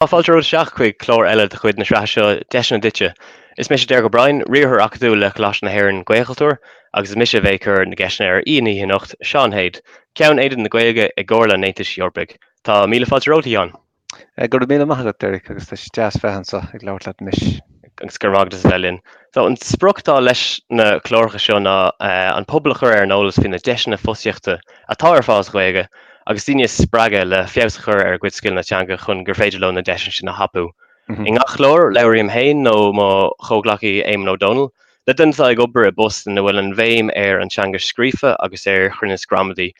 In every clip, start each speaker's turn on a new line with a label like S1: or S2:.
S1: Fáilte romhat isteach chuig clár eile de chuid na sraithe seo Deiseanna Duitse. Is mise Derek O'Brien, Riarthóir Acadúil le Coláiste na hÉireann, Gaelchultúr, agus is mise a bheidh ag cur na gceisteanna ar aoi na hoíche anocht, Seán Hade, Ceann Aonad na Gaeilge i gComhairle an Aontais Eorpaigh. Tá míle fáilte romhat, a Sheáin. Go raibh míle maith
S2: agat, Derek, agus tá sé deas bheith anso ag labhairt leat anois. agus go raibh maith agat as a
S1: bheith linn. So an sprioc atá leis na cláracha seo ná an pobal a chur ar an eolas faoi na deiseanna fostaíochta atá ar fáil sa Ghaeilge agus daoine a spreagadh le feabhas a chur ar a gcuid scileanna teanga chun gur féidir leo na deiseanna sin a thapú. I ngach clár, labhraím féin nó mo chomhghleacaí Éamonn Ó Dónaill le daoine atá ag obair i bpost ina bhfuil an bhéim ar an teanga scríofa agus ar chruinneas gramadaí.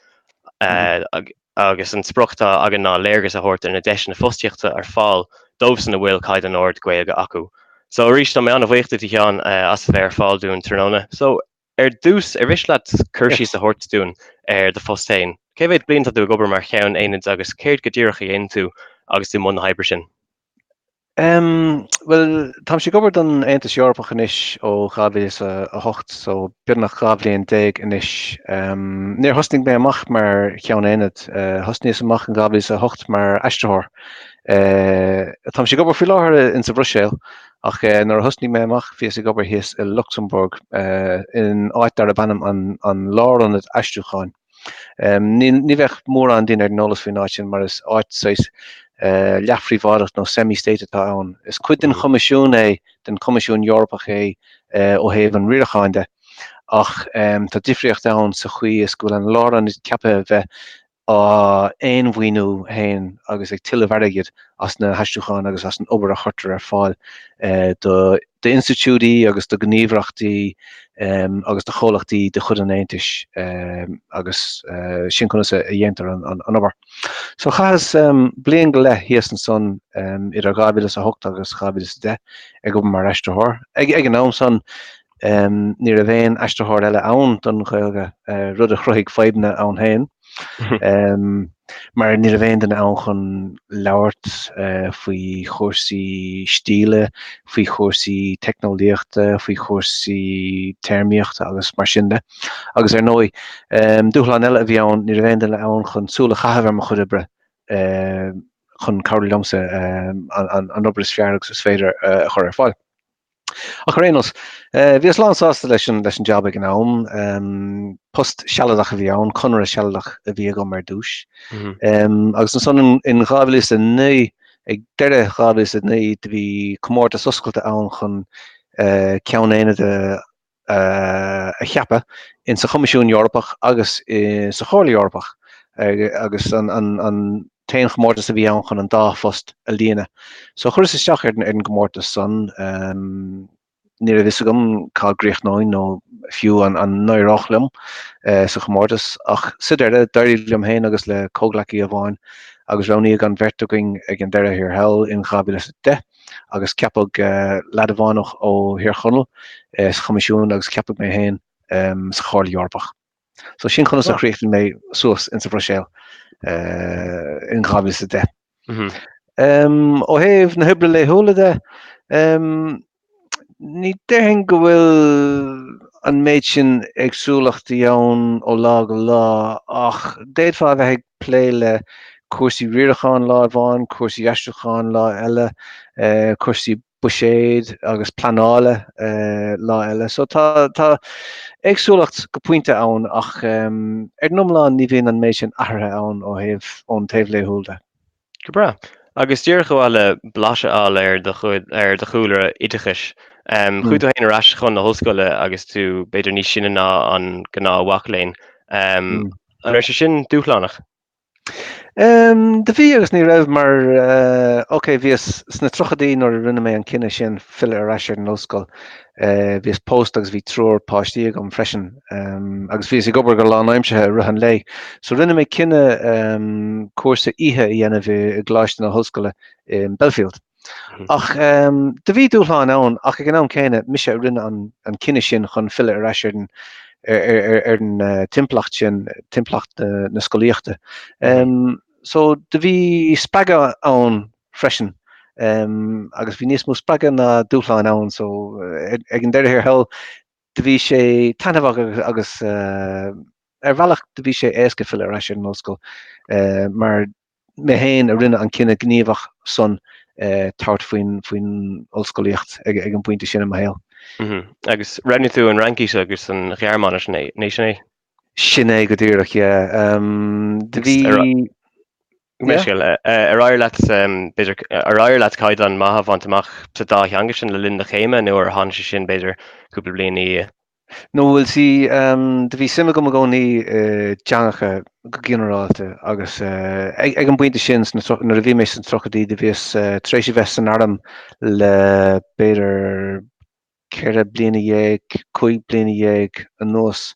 S1: agus an sprioc atá againn ná léargas a thabhairt ar na deiseanna fostaíochta ar fáil dóibhsan a bhfuil caighdeán ard Gaeilge acu. So arís, tá mé an-bhuíoch duit, a Sheáin, as a bheith ar fáil dúinn tráthnóna. So, ar dtús, ar mhiste leat cur síos a thabhairt dúinn ar do phost féin? Cé mhéad bliain tá tú ag obair mar Cheann Aonaid agus céard go díreach a dhéanann tú agus tú i mbun na hoibre sin? Bhuel,
S2: táimse ag obair don Aontas Eorpach anois ó 2008 so beagnach dhá bhliain déag anois. Níor thosnaigh mé amach mar Cheann Aonaid, thosnaíos amach in dhá mhíle is a hocht mar aistritheoir. Táimse ag obair faoi láthair in sa Bhruiséil ach nuair a thosnaigh mé amach bhíos ag obair thíos i Lucsamburg in áit darb ainm an Lárionad Aistriúcháin. Ní bheadh mórán daoine ar an eolas faoin áit sin mar is áit saghas leathphríobháideach nó semi-state atá ann. Is cuid den Choimisiún é, den Choimisiún Eorpach é ó thaobh an riaracháin de ach tá difríocht ann sa chaoi is go bhfuil an lárionad ceaptha a bheith á mhaoiniú féin agus ag tuilleamh airgid as na haistriúcháin agus as an obair a chuirtear ar fáil do d'institiúidí agus do ghníomhaireachtaí agus do chomhlachtaí de chuid an Aontais agus sin conas a dhéantar an obair. So chaitheas bliain go leith thíos ansan idir 2008 agus 2010 ag obair mar aistritheoir. Ag an am san ní raibh aon aistritheoir eile ann don Ghaeilge rud a chruthaigh fadhbanna ann féin. Mar ní raibh aon duine ann chun labhairt faoi chúrsaí stíle, faoi chúrsaí teicneolaíochta, faoi chúrsaí téarmaíochta agus mar sin de. Agus ar ndóigh, dúshlán eile a bhí ann, ní raibh aon duine ann chun súil a chaitheamh ar mo chuid oibre chun cabhrú liomsa an obair is fearr agus is féidir a chur ar fáil. Ach ar aon nós, bhíos lán sásta leis an jab ag an am. Post sealadach a bhí ann, conradh sealadach a bhí agam ar dtús. Agus ansan in 2009, ag deireadh 2009, do bhí comórtas oscailte ann chun ceann aonaid a a cheapadh in sa Choimisiún Eorpach agus insa Chomhairle Eorpach agus an t-aon chomórtas a bhí ann chun an dá phost a líonadh. So chuireas isteach ar an gcomórtas san, ní raibh fhios agam cá gcríochnóinn nó fiú an n-éireodh liom sa gcomórtas ach sa deireadh d'éirigh liom féin agus le comhghleacaí amháin agus roghnaíodh an bheirt againn ag an deireadh thiar thall in 2010. agus ceapadh leaid amháin ó Thír Chonaill sa Choimisiún agus ceapadh mé féin sa Chomhairle Eorpach. So sin conas a chríochnaigh mé suas insa Bhruiséil in 2010. Ó thaobh na hoibre laethúla de, ní déarfainn go bhfuil an méid sin éagsúlachtaí ann ó lá go lá ach d'fhéadfá a bheith ag plé le cúrsaí riaracháin lá amháin, cúrsaí aistriúcháin lá eile, cúrsaí buiséid agus pleanála lá eile. So tá tá éagsúlacht go pointe ann ach ar an iomlán ní bhíonn an méid sin athraithe ann ó thaobh ón taobh laethúil de. Go
S1: breá. Agus díreach a bheith le blas a fháil ar do chúlra oideachais, chuaigh tú féin ar ais chun na hollscoile agus tú b'fhéidir níos sine ná an gnáthmhac léinn. An raibh sé sin
S2: dúshlánach? Do bhí agus ní raibh mar, ok, bhíos sna tríochaidí nuair a rinne mé an cinneadh sin filleadh ar ais ar an ollscoil. Bhíos pósta agus bhí triúr páistí agam freisin agus bhíos ag obair go lánaimseartha i rith an lae. So rinne mé cinneadh cúrsa oíche a dhéanamh i gColáiste na hOllscoile in Belfield. Ach do bhí dúshláin ann ach ag an am céanna mise a rinne an cinneadh sin chun filleadh ar ais ar an timpeallacht sin, timpeallacht na scolaíochta. So do bhí spreagadh ann freisin agus bhí níos mó spreagadh ná dúshláin ann so ag an deireadh thiar thall do bhí sé taithneamhach agus ar bhealach do bhí sé éasca filleadh ar ais ar an ollscoil mar mé féin a rinne an cinneadh gníomhach san tabhairt faoin ollscolaíocht ag an bpointe sin i mo shaol.
S1: Agus roghnaigh tú an Fhraincis agus an Ghearmáinis an ea, sin é? Sin é
S2: go díreach yeah do bhí Go
S1: mbeidh scéal ar éirigh leat b'fhéidir, ar éirigh leat caighdeán maith a bhaint amach sa dá theanga sin le linn do chéime nó ar tháinig sé sin b'fhéidir cúpla bliain ina dhiaidh? Nó bhuel
S2: sea, do bhí suim agam i gcónaí i dteangacha go ginearálta agus ag an bpointe sin sna tríocha, nuair a bhí mé sna tríochaidí do bhíos tar éis a bheith san arm le b'fhéidir 14 bliana, 15 bliana anuas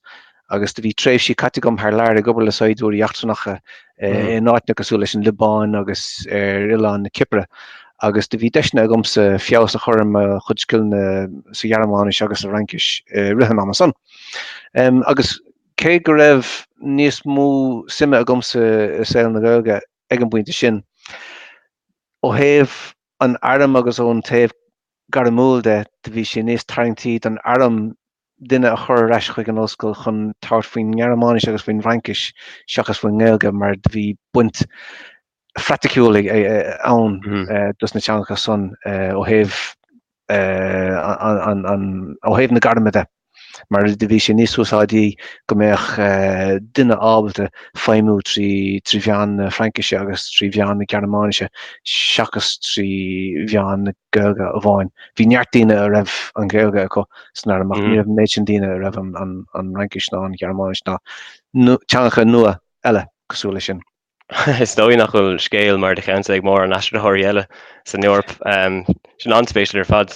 S2: agus do bhí tréimhsí caite agam thar lear ag obair le saighdiúirí eachtrannacha in áiteanna cosúil leis an Liobáin agus ar oileán na Cipire agus do bhí deiseanna agamsa feabhas a chur ar mo chuid scileanna sa Ghearmáinis agus sa Fhraincis i rith an ama san. Agus cé go raibh níos mó suime agamsa i saol na Gaeilge ag an bpointe sin, ó thaobh an airm agus ón taobh gairmiúil de, do bhí sé níos tarraingtí don arm duine a chur ar ais chuig an ollscoil chun tabhairt faoin nGearmáinis agus faoin bhFraincis seachas faoin nGaeilge mar do bhí buaint phraiticiúil ann dos na teangacha san ó thaobh ó thaobh na gairme de. mar do bhí sé níos úsáidí go mbeadh duine ábalta feidhmiú trí mheán na Fraincise agus trí mheán na Gearmáinise seachas trí mheán na Gaeilge amháin. Bhí neart daoine a raibh an Ghaeilge acu san arm ach ní raibh an méid sin daoine a raibh an Fhraincis ná an Ghearmáinis ná teangacha nua eile cosúil leis sin. Is
S1: dóigh nach bhfuil scéal mar do cheannsa ag mórán aistritheoirí eile san Eoraip. Sin an-spéisiúil ar fad.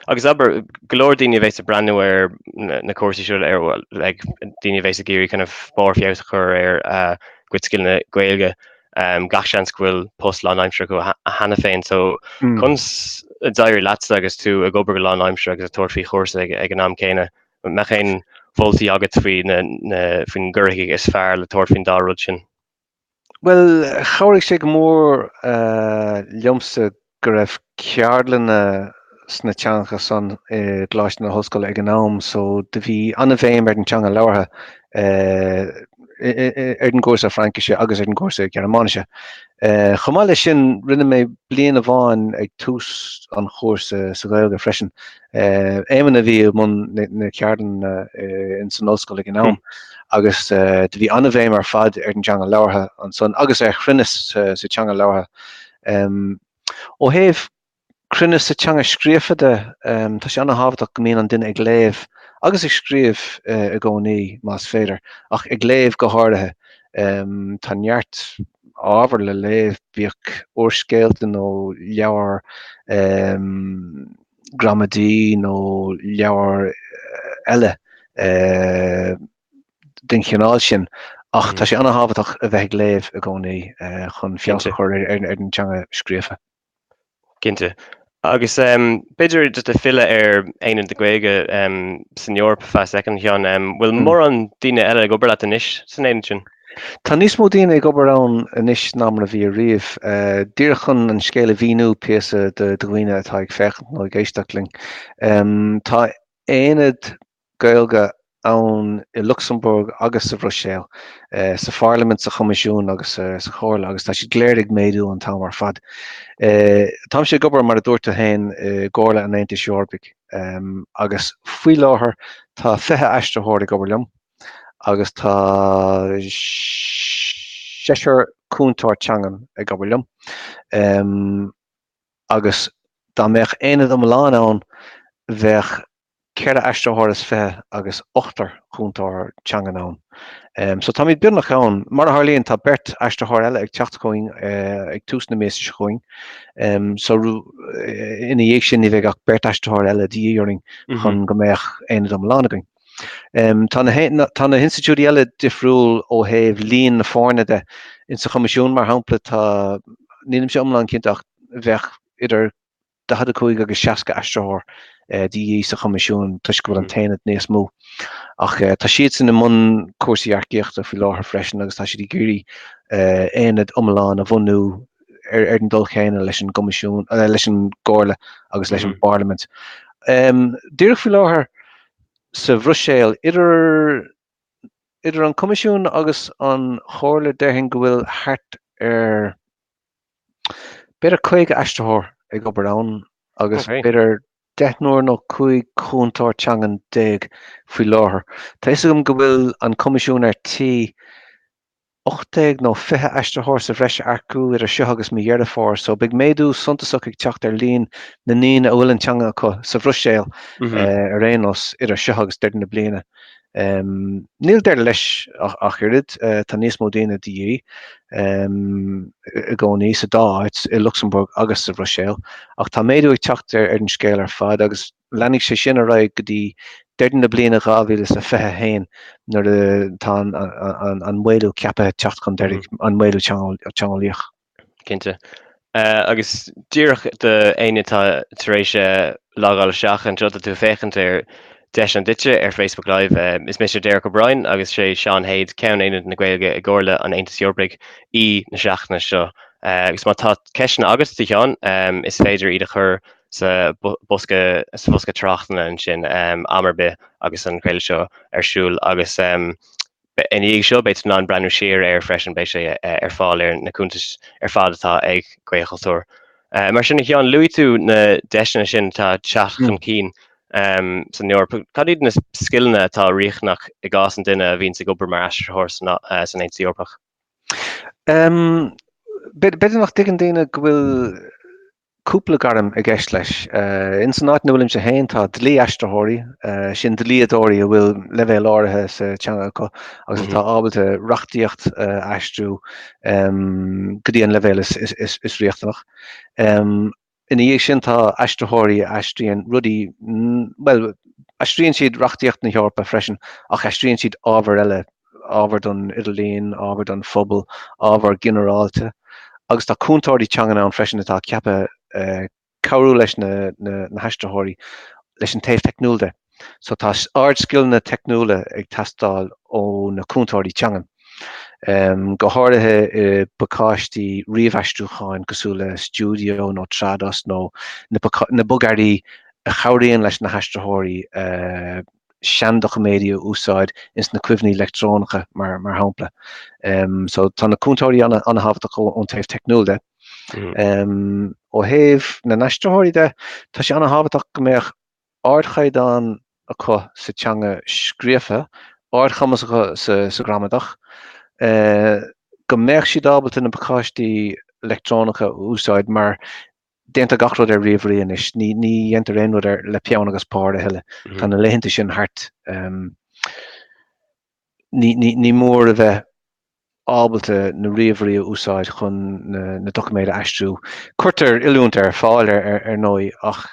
S1: Agus abair, go leor daoine a bheas ag breathnú ar na cúrsaí seo, ar, bhuel, daoine a bheas ag iarraidh kind of barrfheabhas a chur ar a gcuid scileanna Gaeilge, gach seans go bhfuil post lánaimseartha acu cheana féin. So, conas a d'éirigh leatsa agus tú ag obair go lánaimseartha agus ag tabhairt faoi chúrsa ag an am céanna? An mbeadh aon mholtaí agat faoin gcaoi is fearr le tabhairt faoin dá rud sin?
S2: Bhuel, chabhraigh sé go mór liomsa go raibh ceardlanna sna teangacha san i gColáiste na hOllscoile ag an am so do bhí an-bhéim ar an teanga labhartha ar an gcúrsa Fraincise agus ar an gcúrsa Gearmáinise. Chomh maith leis sin, rinne mé bliain amháin ag tús an chúrsa sa Ghaeilge freisin. Éamonn a bhí i mbun na gceardlann ins an ollscoil ag an am agus do bhí an-bhéim ar fad ar an teanga labhartha ansan agus ar chruinneas sa teanga labhartha. Ó thaobh cruinneas sa teanga scríofa de, tá sé an-tábhachtach go mbíonn an duine ag léamh agus ag scríobh i gcónaí más féidir, ach ag léamh go háirithe. Tá neart ábhar le léamh, bíodh úrscéalta nó leabhar. gramadaí nó leabhar eile den chineál sin ach tá sé an-tábhachtach a bheith ag léamh i gcónaí chun feabhas a chur ar an teanga scríofa.
S1: Cinnte. Agus b'fhéidir just le filleadh ar Aonad na Gaeilge san Eoraip feadh soicind, a Sheáin, bhfuil mórán daoine eile ag obair leat anois san aonad sin? Tá níos mó daoine
S2: ag obair ann anois ná mar a bhí ariamh. Díreach chun an scéal a mhíniú píosa do dhaoine atá ag féachaint nó ag éisteacht linn. Tá aonad Gaeilge ann i Lucsamburg agus sa Bhruiséil, eh, sa Pharlaimint, sa Choimisiún agus eh, sa Chomhairle agus tá siad go léir ag méadú an t-am ar fad. Eh, Táimse ag obair mar a dúirt tú féin i gComhairle an Aontais Eorpaigh em, agus faoi láthair tá 20 aistritheoir ag obair liom. agus tá seisear cúntóir teangan ag obair liom agus dá mbeadh aonad iomlán ann bheadh ceithre aistritheoir is fiche agus ochtar cúntóir teangan ann. So táimid beagnach ann. Mar a tharlaíonn tá beirt aistritheoir eile ag teacht chugainn ag tús na míosa seo chugainn so ina dhiaidh sin ní bheidh ach beirt aistritheoir eile de dhíth orainn chun go mbeadh aonad iomlán againn. Tá na hinstitiúidí eile difriúil ó thaobh líon na foirne de. In sa Choimisiún, mar shampla, tá, nílimse iomlán cinnte ach bheadh idir 45 agus 60 aistritheoir de dhíth sa Choimisiún toisc go bhfuil an tAonad níos mó. Ach tá siadsan i mbun cúrsaí earcaíochta faoi láthair freisin agus tá siad ag iarraidh aonad iomlán a bhunú ar, ar an dul céanna leis an gCoimisiún, eh, leis an gComhairle agus leis an mm. bParlaimint. Um, Díreach faoi láthair sa Bhruiséil idir idir an Coimisiún agus an Chomhairle déarfainn go bhfuil thart ar b'fhéidir 50 aistritheoir ag obair ann agus okay. b'fhéidir
S1: deichniúr
S2: nó cúig chúntóir teangan déag faoi láthair. Tá a fhios agam go bhfuil an Coimisiún ar tí 18 nó 20 aistritheoir sa bhreis a earcú idir seo agus mí Dheireadh Fómhair, so beidh méadú suntasach ag teacht ar líon na ndaoine a bhfuil an teanga acu sa Bhruiséil ar aon nós idir seo agus deireadh na bliana. Níl deireadh leis ach oiread, tá níos mó daoine de dhíth i gcónaí sa dá áit, i Lucsamburg agus sa Bhruiséil, ach tá méadú ag teacht ar an scéal ar fad agus, Leanfaidh sé sin ar aghaidh go dtí deireadh na bliana 2021 nuair atá an maolú ceapaithe teacht chun deiridh, an maolú teangeolaíoch. Cinnte.
S1: Agus díreach do éinne atá tar éis logáil isteach anseo tá tú ag féachaint ar An Deis Duitse ar Facebook Live, is mise Derek O'Brien agus is é Seán Hade, Ceann Aonad na Gaeilge i gComhairle an Aontais Eorpaigh, aoi na seachtaine seo. Agus má tá ceisteanna agat do Sheán, is féidir iad a chur sa bhosca sa bhosca tráchtanna ansin am ar bith agus an craoladh seo ar siúl agus i ndiaidh seo beidh tú in ann breathnú siar air freisin beidh sé ar fáil ar na cuntais ar fad atá ag Gaelchultúr. Mar sin a Sheáin luaigh tú na deiseanna sin atá ag teacht chun cinn san Eoraip cad iad na scileanna atá riachtanach i gcás an duine a bhíonns ag obair mar aistritheoir san Aontas Eorpach?
S2: B'fhéidir nach dtuigeann daoine go bhfuil cúpla gairm i gceist leis. Ins an áit ina bhfuilimse féin tá dlí-aistritheoirí, sin dlíodóirí a bhfuil leibhéal áirithe sa teanga acu agus atá ábalta reachtaíocht a aistriú go dtí an leibhéal is riachtanach. Ina dhiaidh sin tá aistritheoirí a aistríonn rudaí, bhuel, aistríonn siad reachtaíocht na hEorpa freisin ach aistríonn siad ábhar eile ábhar don idirlíon, ábhar don phobal, ábhar ginearálta agus tá cúntóirí teanga ann freisin atá ceaptha cabhrú leis na haistritheoirí leis an taobh teicniúil de. So tá ardscileanna teicniúla ag teastáil ó na cúntóirí teanga, go háirithe i bpacáistí ríomhaistriúcháin cosúil le Studio nó Trados nó na bogearraí a chabhraíonn leis na haistritheoirí a seandoiciméidí a úsáid ins na cuimhní leictreonacha mar shampla. So tá na cúntóirí an-thábhachtach ón taobh teicniúil de. Ó thaobh na n-aistritheoirí de, tá sé an-thábhachtach go mbeadh ardchaighdeán acu sa teanga scríofa, ardchumas acu sa ghramadach, go mbeadh siad ábalta na pacáistí leictreonacha a úsáid mar Déantar gach rud ar ríomhairí anois. Ní dhéantar aon rud ar le peann agus pár a thuilleadh. Tá na laethanta sin thart. Ní mór a bheith ábalta na ríomhairí a úsáid chun na doiciméid a aistriú. Cuirtear oiliúint ar fáil ar ndóigh ach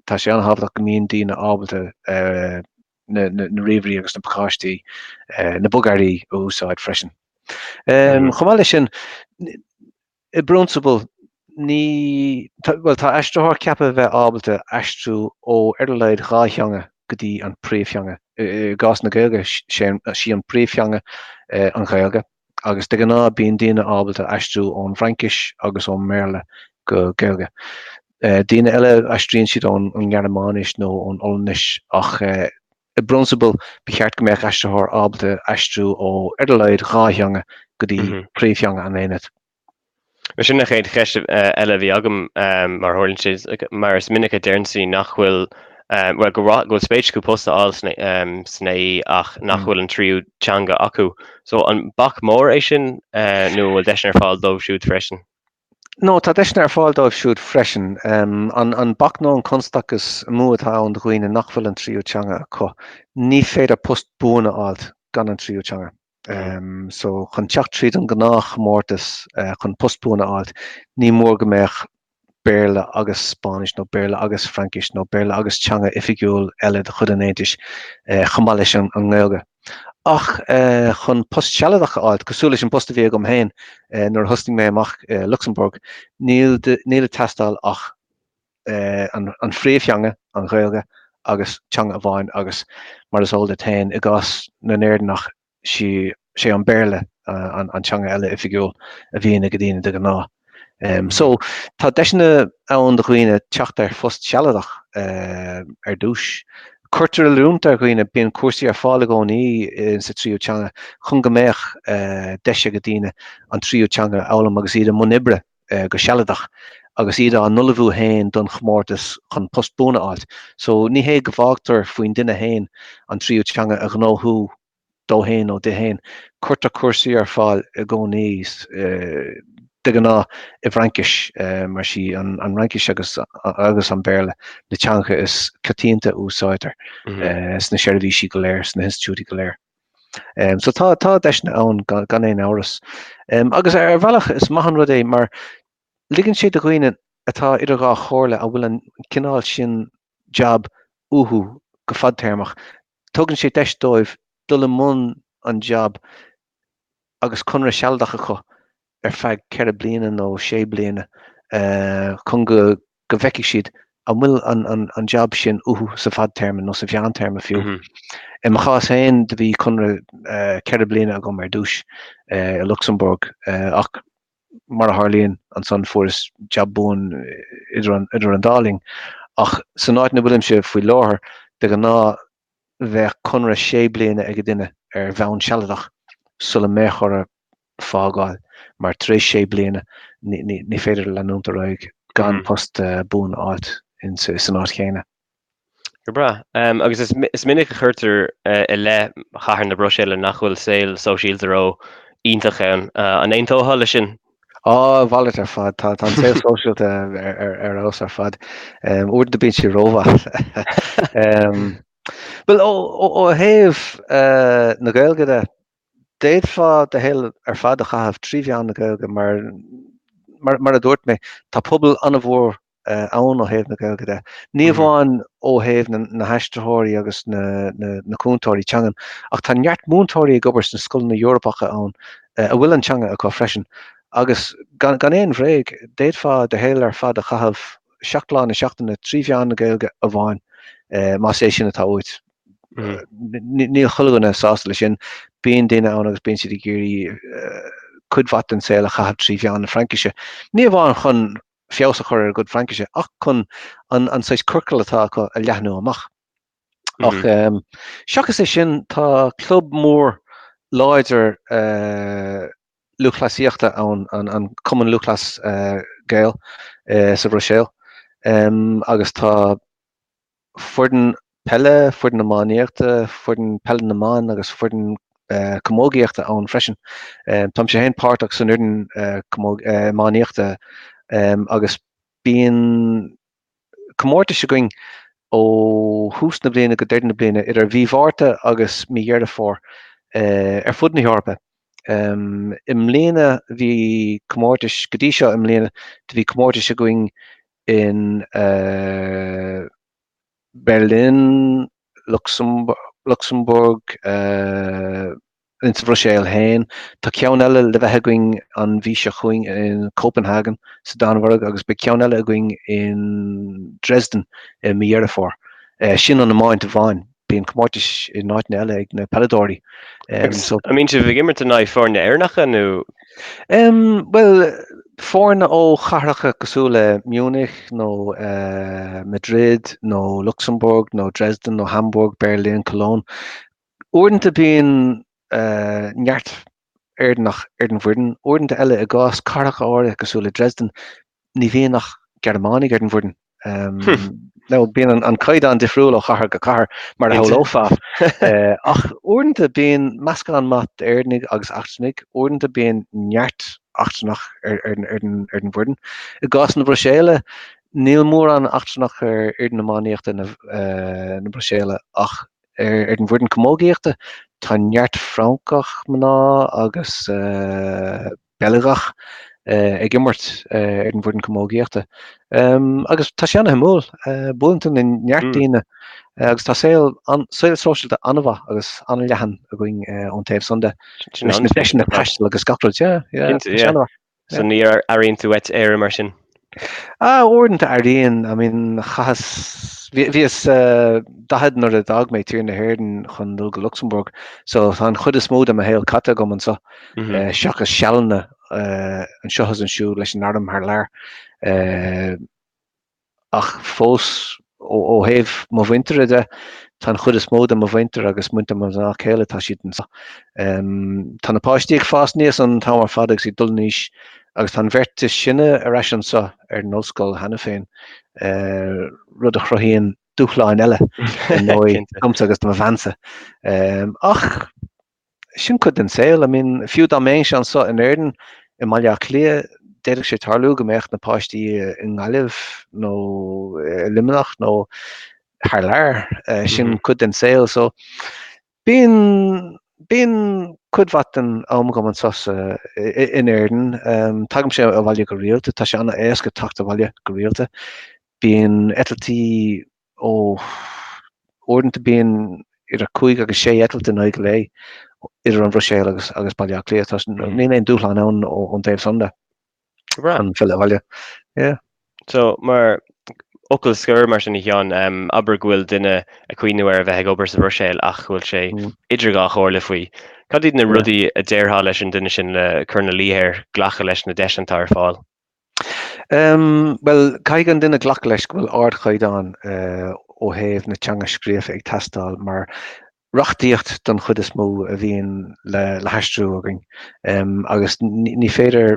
S2: tá sé an-thábhachtach go mbíonn daoine ábalta na ríomhairí agus na pacáistí, na bogearraí a úsáid freisin. Chomh maith leis sin, I bprionsabal, ní, bhuel, tá aistritheoir ceaptha a bheith ábalta aistriú ó ar a laghad dhá theanga go dtí an phríomhtheanga. I gcás na Gaeilge, sé, sí an phríomhtheanga an Ghaeilge agus de ghnáth bíonn daoine ábalta aistriú ón bhFraincis agus ón mBéarla go Gaeilge. Daoine eile, aistríonn siad ón nGearmáinis nó ón Ollainnis ach I bprionsabal, ba cheart go mbeadh aistritheoir ábalta aistriú ó, ar a laghad, dhá theanga go dtí príomhtheanga an aonaid.
S1: Sin an chéad cheist eile a bhí agam, mar a tharlaíonn sé, mar is minic a deireann siad nach bhfuil, go bhfuil spéis acu post a fháil san AE ach nach bhfuil an tríú teanga acu. So, an bac mór é sin nó an bhfuil deiseanna ar fáil dóibh siúd freisin? No,
S2: tá deiseanna ar fáil dóibh siúd freisin. An bac nó an constachas is mó atá ann do dhaoine nach bhfuil an tríú teanga acu, ní féidir post buan a fháilt gan an tríú teanga. So chun teacht tríd an gnáth chomórtas chun post buan a fháilt, ní mór go mbeadh Béarla agus Spáinnis nó Béarla agus Fraincis nó Béarla agus teanga oifigiúil eile de chuid an Aontais chomh maith leis an nGaeilge. ach chun post sealadach a fháilt, cosúil leis an bpost a bhí agam féin nuair a thosnaigh mé amach i Lucsamburg, níl ag teastáil ach an phríomhtheanga, an Ghaeilge, agus teanga amháin agus, mar is eol duit féin, i gcás na nÉireannach, is é an Béarla an teanga eile oifigiúil a bhíonn ag daoine de ghnáth. So, tá deiseanna ann do dhaoine teacht ar phost sealadach ar dtús. Cuirtear oiliúint ar dhaoine, bíonn cúrsaí ar fáil i gcónaí insa tríú teanga chun go mbeadh deis ag daoine an tríú teanga a fhoghlaim agus iad i mbun oibre go sealadach agus iad á n-ullmhú féin don chomórtas chun post buan a fháilt. So, ní hé go bhfágtar faoin duine féin an tríú teanga a ghnóthú dó féin nó di féin. Cuirtear cúrsaí ar fáil i gcónaí, de ghnáth i bhFraincis, mar is í an Fhraincis agus an Béarla na teangacha is coitianta a úsáidtear sna seirbhísí go léir, sna hinstitiúidí go léir. So tá deiseanna ann gan aon amhras. Agus ar bhealach is maith an rud é mar ligeann sé do dhaoine atá idir dhá chomhairle, an bhfuil an cineál sin jab uathu go fadtéarmach, Tugann sé deis dóibh dul i mbun an jab agus conradh sealadach acu ar feadh ceithre bliana nó sé bliana chun go go bhfeicfidh siad an bhfuil an jab sin uathu sa bhfadtéarma nó sa mheántéarma fiú. I mo chás féin do bhí conradh ceithre bliana agam ar dtús i Lucsamburg ach mar a tharlaíonn, ansan fuaireas jab buan idir an dá linn. Ach san áit ina bhfuilimse faoi láthair, de ghnáth bheadh conradh sé bliana ag an duine ar bhonn sealadach sula mbeadh orthu fágáil, mar tar éis sé bliana ní féidir leanúint ar aghaidh gan post buan a fháilt san áit chéanna. Go
S1: breá. Agus is minic a chuirtear i leith chathair na Bruiséile nach bhfuil saol sóisialta ró-iontach ann. An aontófá leis sin? Á, a mhalairt ar
S2: fad, tá an saol sóisialta ar fheabhas ar fad. Uaireanta bíonn sé rómhaith. Bhuil ó thaobh na Gaeilge de, d'fhéadfá do shaol ar fad a chaitheamh trí mheán na Gaeilge mar mar a dúirt mé, tá pobal an-mhór ann ó thaobh na Gaeilge de. Ní amháin ó thaobh na haistritheoirí agus na cúntóirí teangan, ach tá neart múinteoirí ag obair sna scoileanna Eorpacha ann a bhfuil an teanga acu freisin. Agus gan aon bhréag, d'fhéadfá do shaol ar fad a chaitheamh seacht lá na seachtaine trí mheán na Gaeilge amháin, más é sin atá uait. Níl chuile dhuine sásta leis sin. Bíonn daoine ann agus bíonn siad ag iarraidh cuid mhaith den saol a chaitheamh trí mheán na Fraincise, ní amháin chun feabhas a chur ar a gcuid Fraincise ach chun an saghas ciorcal atá acu a leathnú amach. Ach seachas é sin tá club mór láidir lúthchleasaíochta ann, an Cumann Lúthchleas Gael sa Bhruiséil agus tá foireann peile, foireann iománaíochta, foireann peile na mban agus foireann camógaíochta ann freisin. Tá mise féin páirteach san fhoireann iománaíochta agus bíonn comórtais againn ó thús na bliana go deireadh na bliana, idir mhí Mhárta agus mí Dheireadh Fómhair, ar fud na hEorpa. I mbliana bhí comórtais, go dtí seo i mbliana do bhí comórtais againn in Berlin, Lucsamburg, insa Bhruiséil féin. Tá ceann eile le bheith againn an mhí seo chugainn in Copenhagen sa Danmhairg agus beidh ceann eile againn in Dresden i mí Dheireadh Fómhair. Sin an iomáint amháin. Bíonn comórtais in áiteanna eile ag na peileadóirí.
S1: An mbíonn sibh ag imirt in aghaidh foirne Éireannacha nó. Em,
S2: bhuel, foirne ó chathracha cosúil le Munich nó Madrid nó Lucsamburg nó Dresden nó Hamburg, Berlin, Cologne. Uaireanta bíonn eh, neart Éireannach ar an bhfoireann. Uaireanta eile, i gcás cathracha áirithe cosúil le Dresden, ní bhíonn ach Gearmánaigh ar an bhfoireann. So bíonn an caighdeán difriúil ó chathair go cathair, mar a shamhlófá. Ach uaireanta bíonn meascán maith d'Éireannaigh agus eachtrannaigh. Uaireanta bíonn neart eachtrannach ar an bhfoireann. I gcás na Bruiséile, níl mórán eachtrannach ar fhoireann iománaíochta na Bruiséile ach Ar an bhfoireann camógaíochta tá neart Francach, mná agus Beilgeach ag imirt ar an bhfoireann camógaíochta agus tá sé an-shuimiúil bualadh le neart daoine agus tá saol sóisialta an-mhaith agus an-leathan againn ón taobh san de, leis na deiseanna taistil agus gach rud, yeah, yeah, tá sé an-mhaith.
S1: So ní airíonn tú uait Éire mar sin? Ah,
S2: uaireanta airíonn. I mean, chaitheas, bhí, bhíos, eh, daichead nuair a d'fhág mé tír na hÉireann chun dul go Lucsamburg. So tá an chuid is mó de mo shaol caite agam anso, eh, seachas sealanna, eh, anseo agus ansiúd leis an arm thar lear. Eh, ach fós ó thaobh mo mhuintire de, tá an chuid is mó de mo mhuintir agus muintir mo mhná céile, tá siad anseo. Tá na páistí ag fás aníos an t-am ar fad agus ag dul in aois agus tá an bheirt is sine ar ais anseo ar an ollscoil cheana féin, rud a chruthaíonn dúshláin eile ar ndóigh domsa agus do mo bhean-sa ach, Sin cuid den saol. I mean, fiú dá mbeinnse anso in Éirinn, i mBaile Átha Cliath, d'fhéadfadh sé tarlú go mbeadh na páistí i nGaillimh nó i Luimneach nó thar lear. Sin cuid den saol. So, bíonn, bíonn cuid mhaith den am agam anso in Éirinn. Tagaimse abhaile go rialta. Tá sé an-éasca teacht abhaile go rialta. Bíonn eitiltí Ó, uaireanta bíonn idir cúig agus sé eitilt in aghaidh an lae idir an Bhruiséil agus agus Baile Átha Cliath. Tá, so níl aon dúshlán ann ón taobh san de. An filleadh abhaile. Yeah. So,
S1: mar fhocal scoir, mar sin a Sheáin, abair go bhfuil duine ag cuimhneamh ar a bheith ag obair sa Bhruiséil ach go bhfuil sé idir dhá chomhairle faoi. Cad iad na rudaí a déarfá leis an duine sin le cur ina luí air glacadh leis na deiseanna atá ar fáil? Bhuel,
S2: caithfidh an duine glacadh leis go bhfuil ardchaighdeán ó thaobh na teanga scríofa ag teastáil mar reachtaíocht don chuid is mó a bhíonn le haistriú againn agus ní féidir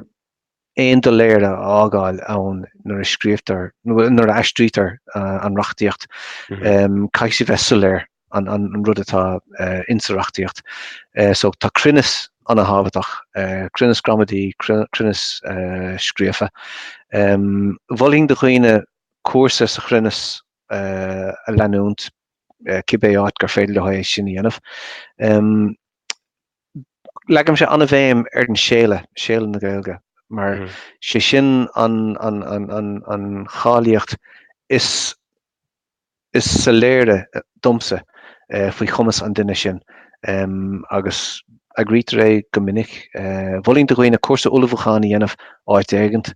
S2: aon doiléire a fhágáil ann nuair a scríobhtar, nuair a aistrítear an reachtaíocht. Caithfidh sí bheith soiléir. an rud atá in sa reachtaíocht. So tá cruinneas ana thábhachtach, cruinneas gramadaí, cruinneas scríofa. Mholfainn do dhaoine cúrsa sa chruinneas a leanúint cibé áit gur féidir leo é sin a dhéanamh. Leagaimse ana-bhéim ar an séala, séala na Gaeilge, mar sé sin an cháilíocht is is soiléire domsa faoi chumas an duine sin agus eagraítear é go minic. Mholfainn do dhaoine cúrsa ullmhúcháin a dhéanamh áit éigint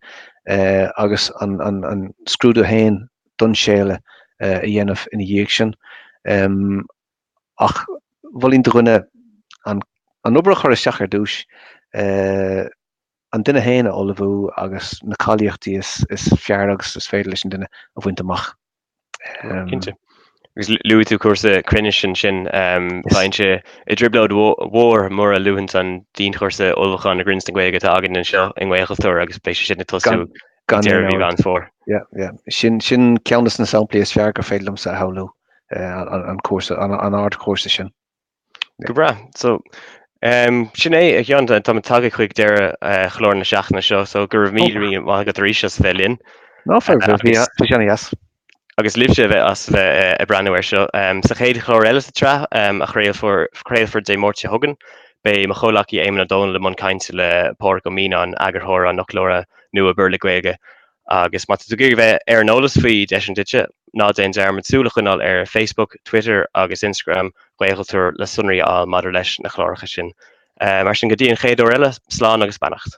S2: agus an scrúdú féin don séala a dhéanamh ina dhiaidh sin. Ach mholfainn do dhuine an obair a chur isteach ar dtús An duine féin a ullmhú agus na cáilíochtaí is fearr agus is féidir leis an duine a bhaint amach. Cinnte.
S1: Agus luaigh tú cúrsa cruinnis ansin. Bheinnse i dtrioblóid mhór mura luafainn an dianchúrsa ullmhúcháin i gcruinneas na Gaeilge atá againn anseo i nGaelchultúr agus beidh sé sin ag tosú ag deireadh mhí Mheán Fómhair. Yeah, yeah.
S2: Sin ceann de na samplaí is fearr gur féidir liomsa a shamhlú, an cúrsa, an ardchúrsa sin. Go
S1: breá. So em sin é a cheann táimid tagtha chuig deireadh chlár na seachtaine seo so go raibh míle míle maith agat arís as bheith linn. No fadhb,
S2: míle buíochas. Agus libhse
S1: a bheith as bheith ag breathnú air seo. Em sa chéad chlár eile sa tsraith em a chraolfar craolfar Dé Máirt seo chugainn beidh mo chomhleacaí Éamonn Ó Dónaill i mbun cainte le Pádraig Ó Mianáin, eagarthóir an fhoclóra nua Béarla-Gaeilge Agus má tá tú ag iarraidh bheith ar an eolas faoi Deiseanna Duitse, ná déan dearmad súil a choinneáil ar Facebook, Twitter agus Instagram Ghaelchultúir le sonraí a fháil maidir leis na cláracha sin. Mar sin, go dtí an chéad uair eile, slán agus beannacht.